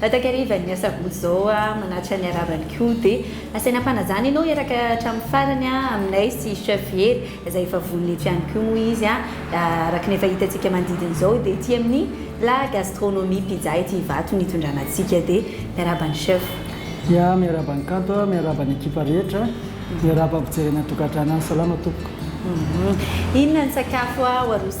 Takarivan'ny asabotsy izao manatitra ny haravany koa dia asaina ampanajana ianao hiaraka hatramin'ny farany aminay sy chef Hery izay efa vonona eto ihany koa moa izy araka ny efa hitantsika manodidina izao dia ety amin'ny La Gastronomie Pizza ity Ivato no hitondrana antsika dia miarahaba ny chef. Ya, miarahaba an'i Kanto a, miarahaba ny ekipa rehetra, miarahaba ny mpijery any an-tokantrano any, salama tompoko. Inona ny sakafo ho aroso.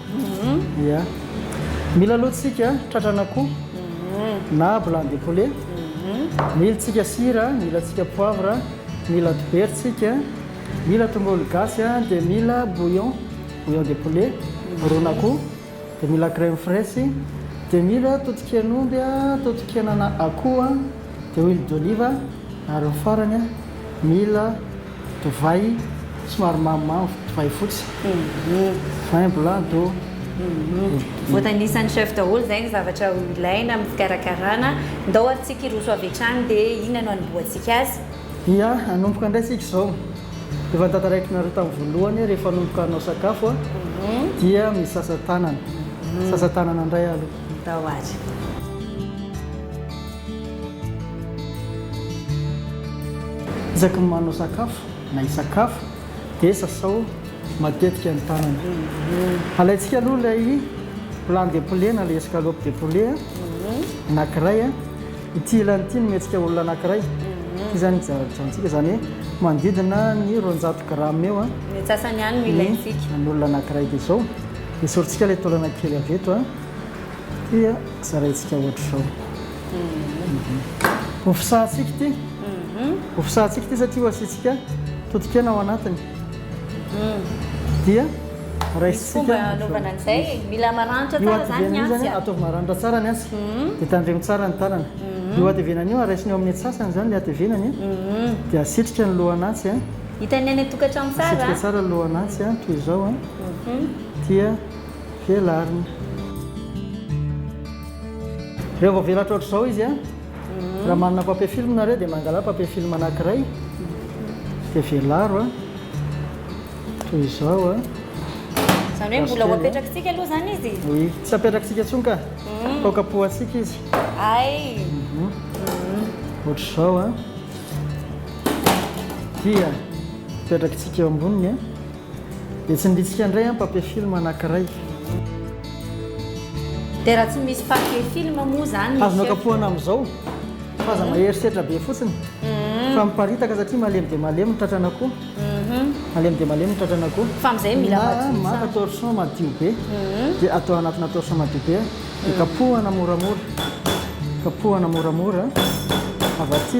Ia. Mila aloha tsika tratran'akoho na blanc de poulet. Mila tsika sira, mila tsika poivre, mila dobera tsika, mila tongolo gasy dia mila bouillon, bouillon de poulet, ron'akoho, dia mila crème fraîche, dia mila totoken'omby, totokenana akoho, dia huile d'olive ary ny farany mila Divay somary mamimamy, divay fotsy, vin blanc d'eau. Voatanisan'ny chef daholo izay ny zavatra ho ilaina amin'ny fikarakarana. Ndao ary tsika hiroso avy hatrany dia inona no hanombohantsika azy? Ia, hanomboka indray tsika izao. Efa notantaraikinareo tamin'ny voalohany hoe rehefa hanomboka hanao sakafo dia misasa tanana. Sasa tanana indray aloha. Ndao ary. Isaky ny manao sakafo na hisakafo dia sasao matetika ny tanana. Alaintsika aloha ilay plan de poulet na ilay escalope de poulet anankiray. Ity ilany ity no omentsika olona anankiray. Ity zany ijanontsika zany hoe manodidina ny roanjato grammes eo ny antsasany ihany no ilaintsika. Ny an'olona anankiray dia izao. Esorintsika ilay taolana kely avy eto. Tia zaraintsika ohatr'izao. Ho fisahantsika ity. Ho fisahantsika ity satria ho asiantsika totokena ao anatiny. Dia raisintsika. Fomba anaovana an'izay e. Mila maranitra tsara izany ny antsy a. Ataovy maranitra tsara ny antsy. Dia tandremo tsara ny tanana. Io hatevenana io raisina eo amin'ny antsasany izany ilay hatevenany. Dia asitrika ny lohan'antsy. Hitan'ny any an-tokantrano tsara a. Asitrika tsara ny lohan'antsy toy izao. Dia. Velarina. Rehefa voavelatra ohatr'izao izy a, raha manana papier film nareo dia mangalà papier film anankiray dia velaro a, toy izao a. Izany hoe mbola ho apetrakitsika aloha izany izy? Oui, tsy apetrakitsika intsony ka, atao kapohantsika izy. Hay! Ohatr'izao a. Dia apetrakitsika eo amboniny a. Dia tsy niritsika indray an papier film anankiray. Dia raha tsy misy papier film moa izany. Azonao kapohana amin'izao fa aza mahery setra be fotsiny fa miparitaka satria malemy dia malemy ny tratrana koa. Malemy dia malemy ny tratrana koa. Fa amin'izay mila madio tsara. Na maka torchon madio be dia atao anatina torchon madio be dia kapohana moramora. Kapohana moramora avy aty.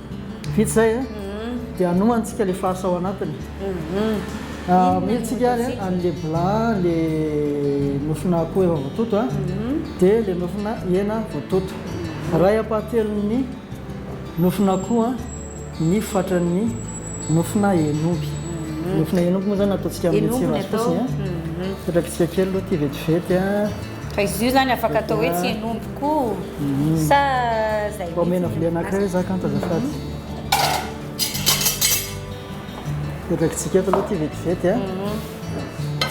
Vita zay a, dia hanomantsika le farce ao anatiny, amelitsika ary an le bla le nofona akoho efa voatoto a, dia le nofona hena voatoto, ray ampahatelon'ny nofona akoho a ny fatran'ny nofona hen'omby, nofona hen'omby moa zany ataontsika amin'ny tsiro azy fotsiny a, sotrakitsika kely aloha ity vetivety a. Fa izy io zany afaka atao hoe tsy hen'omby koa sa zay mihitsy? Omena vilia anankiray hoe za kanto azafady. Petakitsika eto aloha ty vetivety a.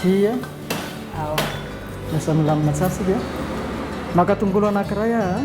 Ty a. Lasa milamina tsara sika. Maka tongolo anankiray aho a.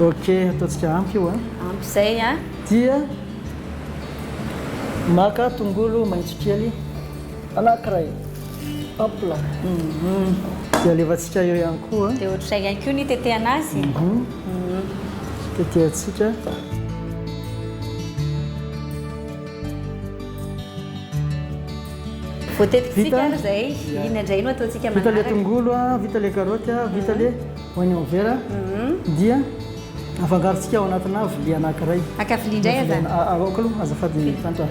Ok, ataontsika ampy io a. Ampy izay a. Dia maka tongolo maitso kely anankiray, hop là. Dia alefantsika eo ihany koa. Dia ohatr'izay ihany koa ny hitetehana azy. Tetehantsika. Voatetikitsika ary izay, iny indray no ataontsika manaraka. Vita ilay tongolo, vita ilay karaoty, vita ilay oignon vert, dia afangarontsika ao anatinà vilia anankiray. Maka vilia indray aho izany? Aoka aloha, azafady Tanti a.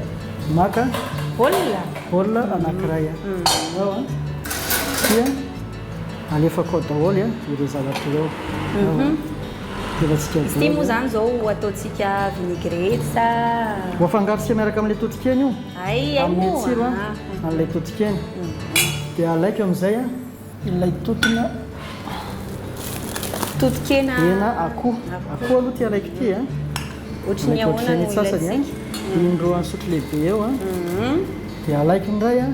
Maka. Bol? Bol anankiray. Ao an. Dia alefako ao daholo ireo zavatra ireo. Ity moa zany zao ho ataontsika vinaigrette sa. Ho afangarontsika miaraka amin'ilay totokena io. Hay hay moa. Hanome tsiro an, an'ilay totokena. Dia alaiko amin'izay an, ilay totona. Totokena. Hena akoho. Akoho aloha ity alaiko ity an. Ohatry ny ahoana no ilaintsika. Indroan'ny sotro lehibe eo an. Dia alaiko indray an.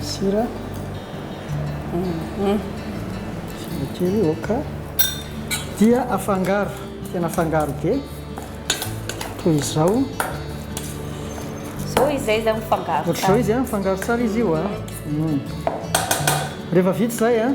Sira, sira kely ok. Dia afangaro, tena afangaro be toy izao. Izao izay zany mifangaro. Ohatr'izao izy mifangaro tsara izy io. Rehefa vita izay.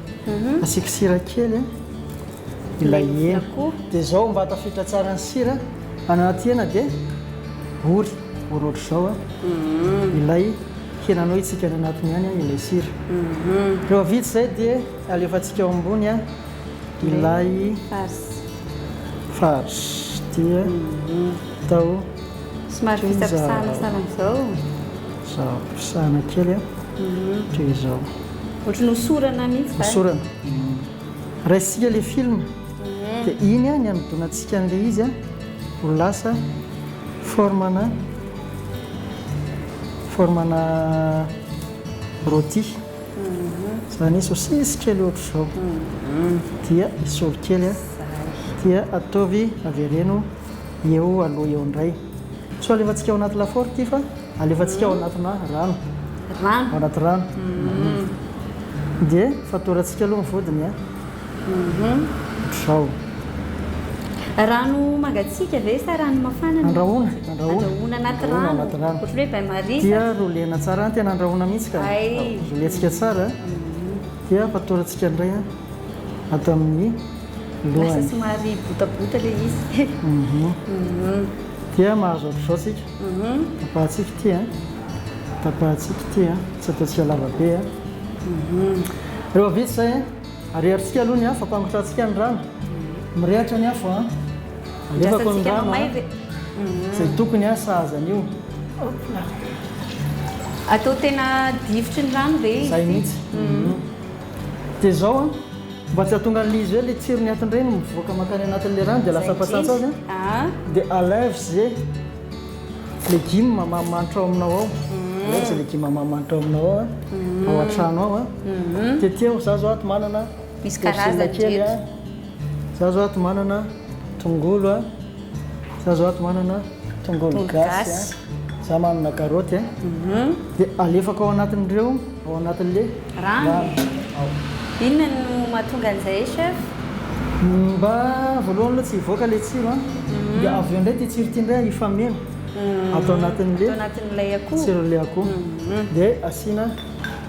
Mhm. Asiako sira kely eh. ilay hena. Dia izao mba tafiditra tsara ny sira anaty hena dia ory ory ohatr'izao a. Mhm. Ilay henanao hitsikana anatiny ihany a ilay sira. Mhm. Rehefa vita izay dia alefantsika ao ambony a ilay farce dia atao somary fisapisahana sahala amin'izao. Zao pisahana kely a. Toy izao. Ohatran'ny hosorana mihitsy va? Hosorana. Raisintsika ilay film, dia iny ny hanodonantsika an'ilay izy ho lasa forme-na forme-na rôti. Izany hoe sôsisy kely ohatr'izao. Dia esory kely, dia ataovy avereno eo aloha eo indray. Tsy ho alefantsika ao anaty lafaoro ity fa alefantsika ao anatina rano. Rano. Ao anaty rano. Mhm. Dia fatorantsika aloha ny vodiny a. Mhm. Ohatr'izao. Rano mangatsiaka ve sa rano mafana no Andrahoina, alefantsika? andrahoina. Andrahoina anaty Andrahoina rano. anaty rano. Ohatr'ny hoe bain marie sa Dia rolena tsara, tena andrahoina mihitsy ka. Hay. Rolentsika tsara dia fatorantsika indray a ato amin'ny lasa lohany. somary botabota ilay izy. Mhm. Mhm. Dia mahazo hatrizao tsika. Tapahantsika ity a. Tapahantsika ity a. Tsy ataontsika lava be a. Rehefa vita izay a, ariarintsika aloha ny afo, ampangotrantsika ny rano. Mirehatra ny afo a. Alefako ny rano a. Izay tokony a, sahaza an'io. Hop là. Atao tena difotry ny rano ve izy ity? Izay mihitsy. Dia izao an, mba tsy hahatongan'ilay izy hoe ilay tsiron'ny atin-drey no mivoaka mankany anatin'ilay rano dia lasa fatsantsa azy an, dia à l'invsge, legumes manimanitra ao aminao ao, à l'invsge, legumes manimanitra ao aminao ao an, ao an-trano ao an, tetehao, za zao ato manana persil kely an. Za zao ato manana tongolo a, za zao ato manana tongolo gasy a, za manana karoty a, dia alefako ao anatin'ireo, ao anatin'le rano. Inona no mahatonga an'izay chef? Mba voalohany aloha tsy hivoaka ilay tsiro a, dia avy eo indray ity tsiro ity indray hifameno ato anatin'le tsiron'le akoho, dia asiana.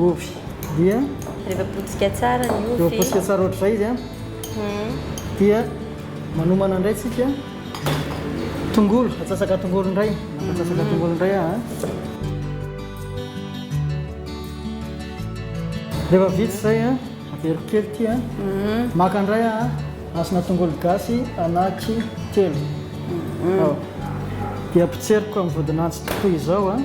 Ovy dia. Rehefa potsika tsara ny ovy. Rehefa potsika tsara ohatr'izay izy an. Dia manomana indray tsika tongolo. Atsasaka tongolo indray. Atsasaka tongolo indray an. Rehefa vita izay an, averiko kely ity an. Maka indray an, asina tongolo gasy anaky telo. Dia potseriko amin'ny vodin'antsy toy izao an.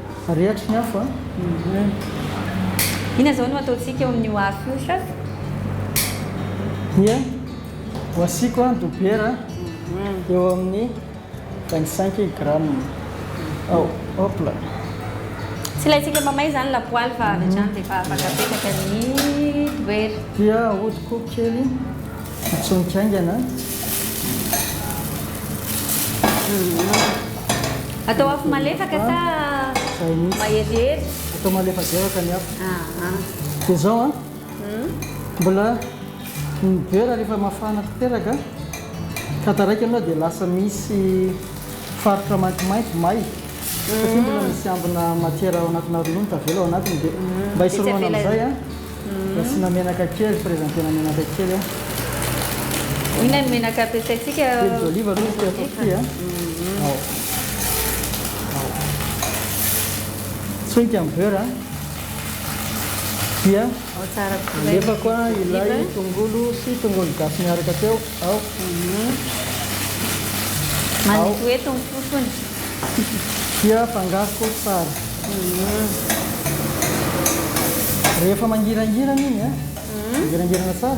Rehatry ny afo an. Inona izao no ataontsika eo amin'io afo io chef? Dia ho asiako an dobera eo amin'ny vingt cinq grammes ao hop là. Tsy ilay tsika mamay izany lapoaly fa avy hatrany dia efa afaka apetraka ny dobera. Dia ahodiko kely. Hitsonika haingana an. Atao afo malefaka sa maherihery? Atao malefadevaka ny afo. Dia izao an, mbola miboera rehefa mafana tanteraka ka taraiky aloha dia lasa misy faritra maintimainty, may, satria mbola misy ambina matière ao anatina ronono tavela ao anatiny dia mba hisorohana an'izay an. Asiana menaka kely, presenter-na menaka kely a. Inona ny menaka ampiasaintsika? Huile d'olive aloha izy ity ataoko ity a. Ao. Ao. Tsoinka ny beurre a. Dia Ao tsara kokoa ilay alefako a, huile ilay d'olive. tongolo sy tongolo gasy miaraka teo. Manetoeto ny fofony. Dia afangaro tsara. Rehefa mangirangirana iny, mangirangirana tsara.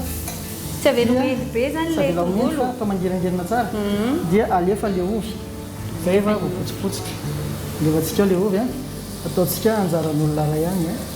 Tsy avela ho mendy be izany ilay tongolo? Tsy avela ho mendy fa mangirangirana tsara. Dia alefa ilay ovy. Zay efa voapotsipotsitra. Alefantsika ao ilay ovy. Ataontsika anjaran'olona iray ihany.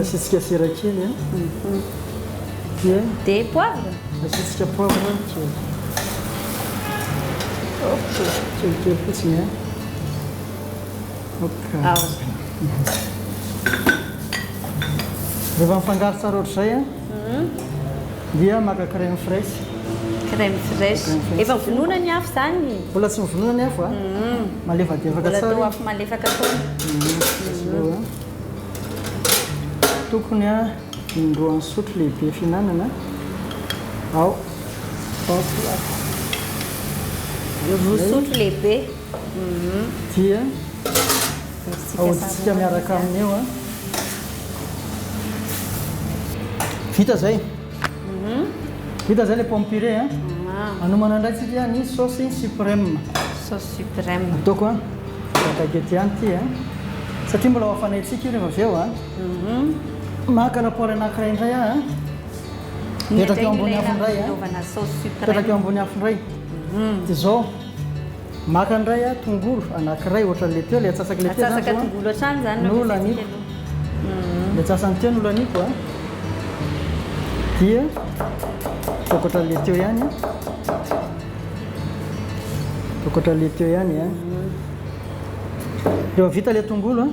Asiantsika sira kely a. Dia. Dia poivre. Asiantsika poivre kely. Okay. Kely kely fotsiny a. Okay. Ah. Rehefa mifangaro tsara ohatr'izay a. Dia maka crème fraîche. Crème fraîche. Efa vonoina ny afo zany? Mbola tsy mivonoina ny afo a. Malefadefaka tsara. Mbola toa afo malefaka foana. Tokony a indroa ny sotro lehibe fihinanana ao taotr'lako. Roa sotro lehibe. Mhm. Dia ahodintsika miaraka amin'ny eo a. Vita zay. Vita izay ilay pomme purée a. Hanomana indray isika ny saosy supreme. Saosy supreme. Ataoko a. Akaiky ety ihany ity a. Satria mbola ho hafanaintsika io rehefa avy eo a. Maka lapoaly anankiray indray aho a. Apetraka eo ambony afo indray a. Apetraka eo ambony afo indray. Dia izao. Maka indray aho tongolo anankiray ohatran'ilay teo, ilay atsasak'ilay teo izany izao an. Atsasaka tongolo hatrany izany no resisika aloha. Ilay atsasany teo no holaniako an. Dia ataoko ohatran'ilay teo ihany an. Ataoko ohatran'ilay teo ihany an. Efa vita ilay tongolo an.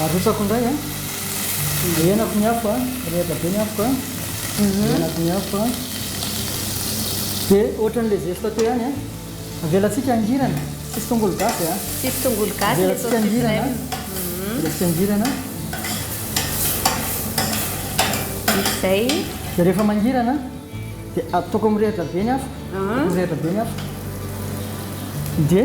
Arotsako indray a, henako ny afo a, mirehitra be ny afoko a, henako ny afo a, dia ohatran'ny le zesita teo ihany a, avelantsika hangirana, tsisy tongolo gasy a, tsisy tongolo gasy le saucisse nem, avelantsika hangirana, vita izay, dia rehefa mangirana dia ataoko mirehitra be ny afo, ataoko mirehitra be ny afo dia.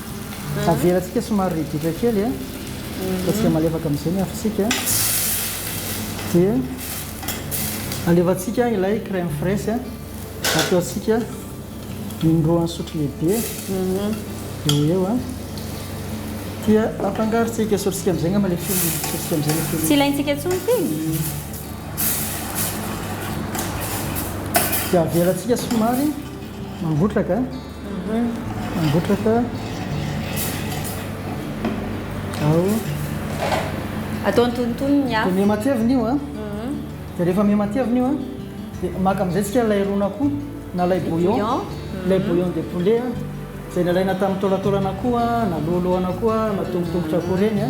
Avelantsika somary ridritra kely e, ataontsika malefaka amin'izay ny afontsika, dia alefantsika ilay crème fraîche, ataontsika in-droan'ny sotro lehibe eo ho eo, dia afangarontsika, esorintsika amin'izay angamba ilay filtre, esorintsika amin'izay ilay filtre. Tsy ilaintsika intsony ity e? Dia avelantsika somary mangotraka. Mangotraka ao. Atao antonontonony ny afo. Dia miha-matevina io a. Dia rehefa miha-matevina io a, dia maka amin'izay isika ilay ron'akoho na ilay bouillon. Ilay bouillon de poulet a, izay nalaina tamin'ny taolataolan'akoho a, na lohalohana akoho a, na tongotongotr'akoho ireny a.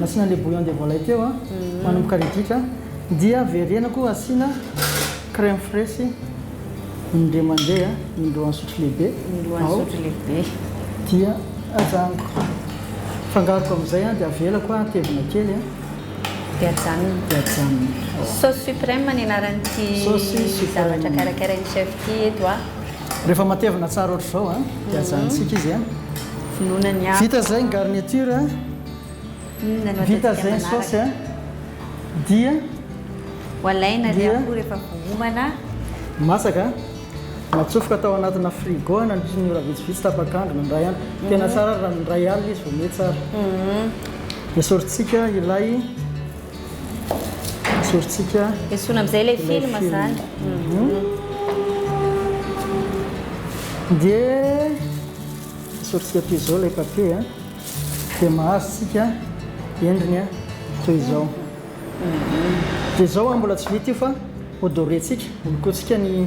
nasiana le bouillon de volaille teo a manomboka ridritra dia verenako asiana crème fraîche indray mandeha indroa an'sotro lehibe ao dia ajanoko fangaroko amin'izay a dia avelako a tevina kely a dia ajanony dia ajanony sauce suprême ny anaran'ity zavatra karakarain'i chef ity eto a Rehefa matevina tsara ohatra izao an, dia mhm. ajanontsika izy an. Vonoina ny afo. Vita izay ny garniture an. Inona Vita izay ny saosy an. Dia. Ho alaina ny afo rehefa vohomana. Masaka. Natsofoka tao anatina frigo an, nandritra ny ora vitsivitsy tapak'andro na indray andro. Mhm. Tena tsara raha indray alina izy vao mihe tsara. Mhm. Dia sorintsika ilay. Hijorotsika. Esorina amin'izay ilay film izany. Dia esoritsika toy izao ilay papier. Dia mahazo tsika endriny toy izao. Dia izao mbola tsy vita io fa hodorentsika, holokointsika ny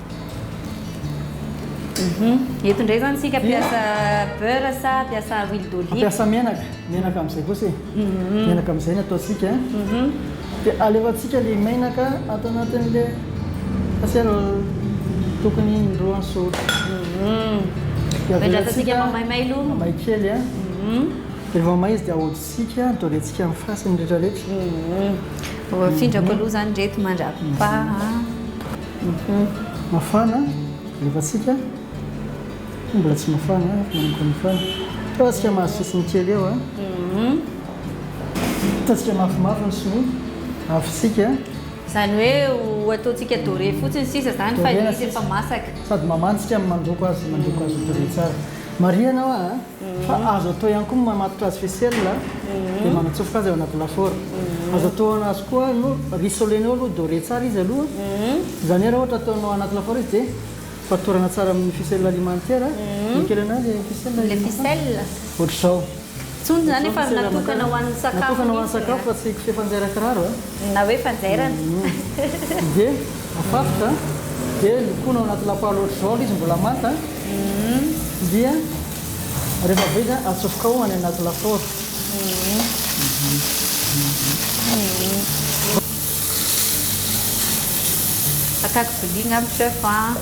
Mhm. Eto indray izany isika hampiasa beurre sa hampiasa huile d'olive? Hampiasa menaka, menaka amin'izay kosa e. Mhm. Menaka amin'izay no ataontsika a. Mhm. Dia alefantsika ilay menaka ato anatin'ilay pasiera tokony indroa an-sotro. Mhm. Dia Miandrasantsika avelatsika- mamaimay aloha. Mamay kely a. Mhm. Rehefa may izy dia ahodintsika, dorentsika amin'ny fasany rehetrarehetra. Mhm. Findrako aloha izany ireto mandrapaha. Mafana rehefa atsika fa mbola tsy mafana fa manomboka mafana. Fa atsika mahazo sisiny kely eo a. Ataontsika mafimafy ny sinoa, avotsika. Izany hoe ho ataontsika doré fotsiny sisa izany fa ilay izy efa masaka. Sady mamantsika no mandoko azy, mandoko azy ho doré tsara. Marihana hoa a. Fa azo atao ihany koa ny mamatotra azy faisselle dia manatsofoka azy ao anaty lafaoro. Azo atohana azy koa no rissolena eo aloha, dorer tsara izy aloha. Izany hoe raha ohatra ataonao ao anaty lafaoro izy dia fatorana tsara amin'ny faisselle alimentaire. Dia kely an'ahy ilay faisselle alimentaire. Ilay faisselle? Ohatr'izao. Tsony izany efa natokana ho an'ny sakafo mihitsy e. Natokana ho an'ny sakafo fa tsy kofehy fanjaira kiraro e. Na hoe fanjairana. Dia afatotra, dia lokoina ao anaty lapoaly ohatr'izao ilay izy mbola manta, dia rehefa be dia atsofoka ao any anaty lafaoro. Ataoko vilia angamba chef an.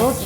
Ok.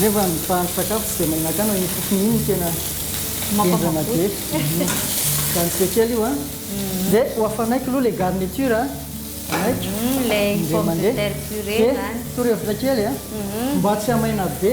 Nefa ny mpahandro sakafo tsy dia mahinakana iny fofony iny no tena henjana be. Izany tsy dia kely io an! Dia ho hafanaiky aloha ilay garniture an! Hanaiko indray mandeha. Dia torohevitra kely an! Mba tsy hamaina be.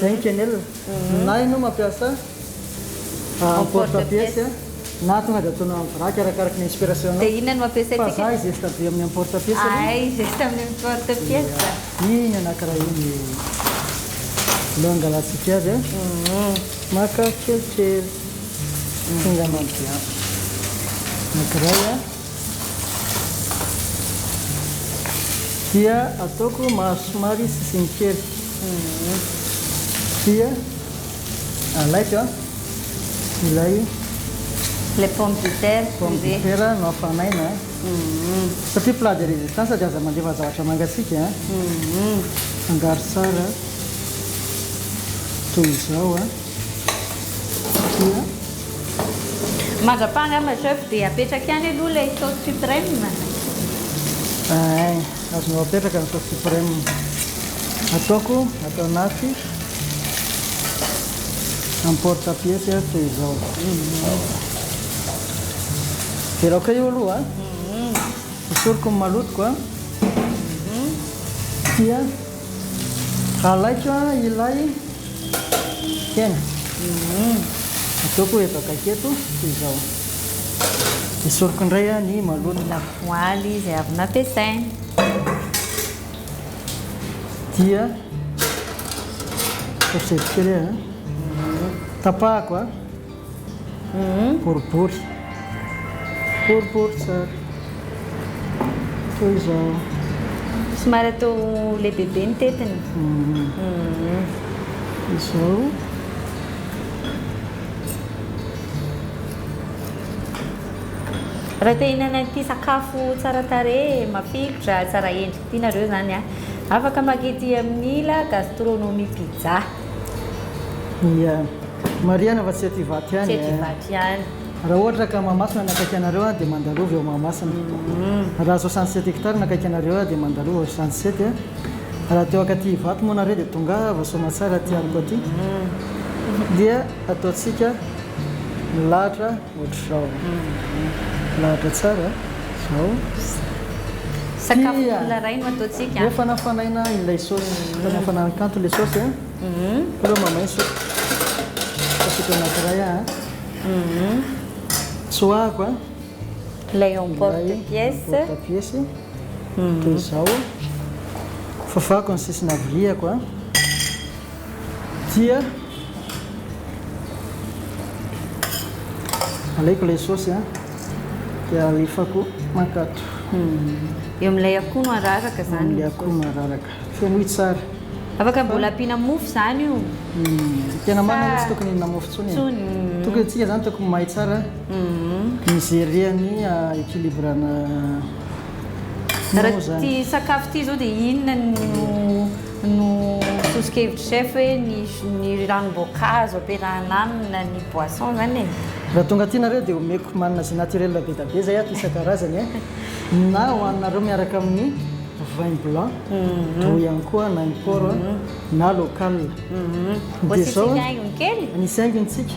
Zay Kenel a! Na ianao mampiasa en porte pièce a, na tonga dia ataonao en vrac arakaraky ny inspiration nao. Dia inona no mampiasaintsika? Fa za i Zesta be amin'ny en porte pièce aloha. Ahay i Zesta amin'ny en porte pièce. Dia iny anankiray iny no angalantsika azy a. Maka kelikely. Enga mandià. Anankiray a. Dia ataoko mahazo somary sisiny kely. Dia alaiko ilay. Ilay pomme de terre. Pomme de terre no hafanaina. Satria plat de resistance dia aza mandefa zavatra mangatsiaka. Afangaro tsara toy izao. Mandrapaha angamba chef dia apetraka ihany aloha ilay sauce supreme. Ay, azonao apetraka ny sauce supreme. Ataoko ato anaty emporte-pièce aho toy izao. Dia laoka io aloha. Hosoriko ny malotoko dia. Alaiko ilay hena. Ataoko hebaka aketo toy izao. Esoriko indray ny maloto. Lapoaly izay avy nampiasaina. Dia koseliko kely. Tapahako. boribory boribory tsara toy izao somary atao lehibebe ny tetiny izao raha te hinana ity sakafo tsara tarehy mafilotra tsara endrika ity nareo zany a afaka mangidy amin'ny la gastronomie pizza Ia. Marihana fa tsy ety Ivato ihany e. Tsy ety Ivato ihany. Raha ohatra ka Mahamasina no akaiky anareo dia mandalova eo Mahamasina. Raha soixante sept hectares no akaiky anareo dia mandalova eo soixante sept. Raha teo akaty Ivato moa nareo dia tongava Soamatsara aty Arco aty dia ataontsika milahatra. Ohatr'izao an. Lahatra tsara izao. Sakafo mbola raino ataontsika. Efa nafanaina ilay saosy. Efa nafanain'ny kanto ilay saosy a. Aleo mamaiso. Asiako anankiray a. Tsoahako a. Ilay emporte pièce. Ilay emporte pièce. Dia izao. Fafako ny sisiny haviliako a. dia alaiko ilay saosy a dia alefako makato eo amin'ilay akoho no araraka izany amin'ilay akoho no araraka femoy tsara afaka mbola ampiana mofo izany io hmm, tena marina hoe tsy tokony hinana mofo tsony e. hmm. tokony antsika izany tokony mahay tsara mizeria hmm. ny ah, équilibrana raha ty sakafo ty izao dia inona no no soso-kevitry chef hoe ny ny ranom-boankazo ampiarahana aminy na ny boisson zany e. Raha tonga aty nareo dia omeko manina jus naturel be da be zay ato isan-karazany e, na ho aninareo miaraka amin'ny vin blanc toa ihany koa na import na local. Dia izao an, anisy haingony tsika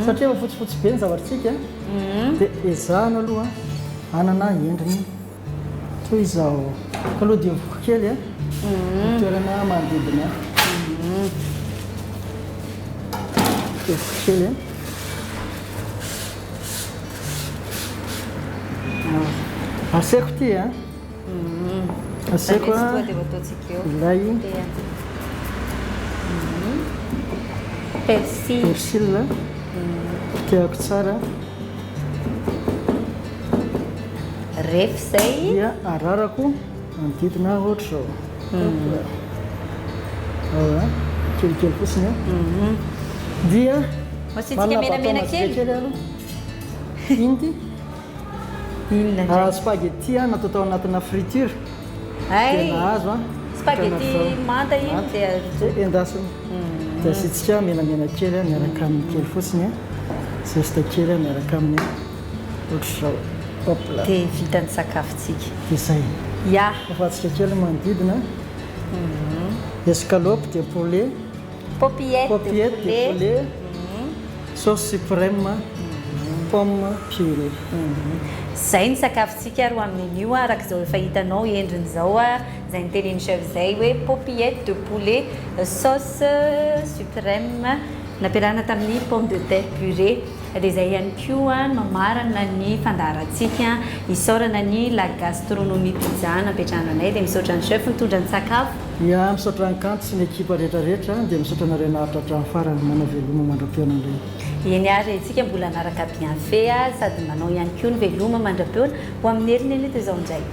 satria efa fotsifotsy be ny zavatr'tsika dia ezahana aloha hanana endriny. Toy izao. Kalo dia voky kely ny toerana manodidina ahy. Dia voky kely. Aseko ity a. Aseko a. Ilay. Persil. Persil. Potehako tsara. Ref izay. Dia ararako manodidina ohatr'izao. Kelikely fotsiny a. Dia manana baton majinika kely aloha. Inona ity? Inona indray? Spaghetti natao tao anatina friture. Hay! Tena azo an! Spaghetti manta iny dia rojo. Endasina. Dia asiantsika menamena kely miaraka amin'ny kely fotsiny, zesta kely miaraka amin'ny ohatr'izao. Hop là! Dia vita ny sakafontsika. Dia izay. Ya! Afatsika kely ny manodidina. Escalope de poulet. Popiette de poulet. Popiette de poulet. Sauce suprême. Pomme purée. Izay ny sakafo. Tsika ary ho amin'inio araka izao efa hitanao endriny izao izay nitenenin'i chef Zay hoe paupillettes de poulet sauce supreme nampiarahana tamin'ny pomme de terre purée dia izay ihany koa no mamarana ny fandaharantsika isaorana ny la gastronomie pizza napetrahana anay dia misaotra an'i chef nitondra ny sakafo. Ya misaotra an'i Kanto sy ny ekipa rehetra rehetra dia misaotra anareo naharitra hatramin'ny farany, manao veloma mandra-pihaonana indray. Eny ary, isika mbola hanaraka bienfaits sady manao ihany koa ny veloma mandra-peona ho amin'ny herin'ny ela eto izao indray.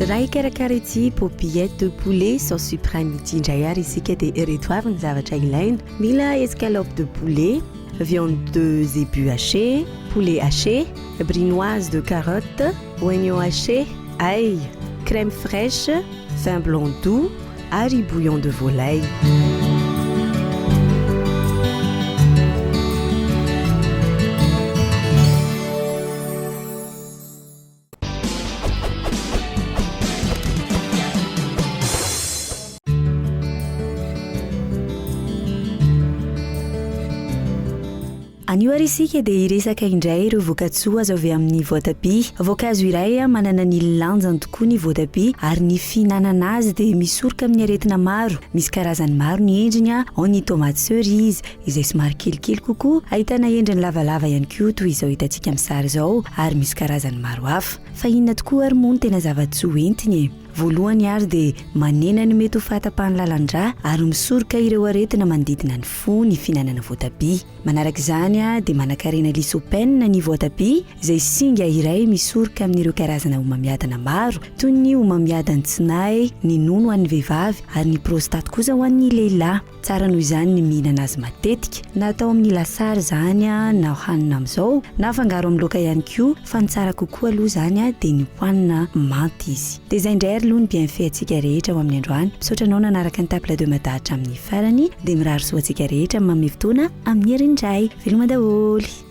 Raha hikarakara ity Poppyette de poulet sauce supreme ity indray ary isika dia ireto avy ny zavatra ilaina, mila escalope de poulet, viande de zébu haché, poulet haché, brinoise de carotte, oignon haché, ail, crème fraiche, vin blanc doux ary bouillon de volaille. Anio ary isika dia hiresaka indray ireo vokatsoa azo avy amin'ny voatabia. Voankazo iray ah, manana ny lanjany tokoa ny voatabia ary ny fihinanana azy dia misoroka amin'ny aretina maro. Misy karazany maro ny endriny, ah, ao ny tomates cerises, izay somary kelikely kokoa, ahitana endriny lavalava ihany koa toy izao hitantsika amin'ny sary izao ary misy karazany maro hafa. Fa inona tokoa ary moa no tena zava-tsoa hoentiny e? Voalohany ary dia manena ny mety ho fahatapahan'ny lalan-drà ary misoroka ireo aretina manodidina ny fo ny fihinanana voatabia. Manaraka izany dia manankarena lycopene ny voatabia izay singa iray misoroka amin'ireo karazana homamiadana maro toy ny homamiadan'ny tsinahy, ny nono ho an'ny vehivavy ary ny prostate kosa ho an'ny lehilahy. Tsara noho izany ny mihinana azy matetika, na atao amin'ny lasary izany na hohanina amin'izao, na afangaro amin'ny laoka ihany koa, fa ny tsara kokoa aloha izany dia ny hohanina manta izy. Dia izay indray ary aloha ny bienfait antsika rehetra ho amin'ny androany. Misaotra anao nanaraka ny Table de Mada hatramin'ny farany, dia mirary soa antsika rehetra amin'ny manome fotoana amin'ny herin'ny Ray. Veloma daholo.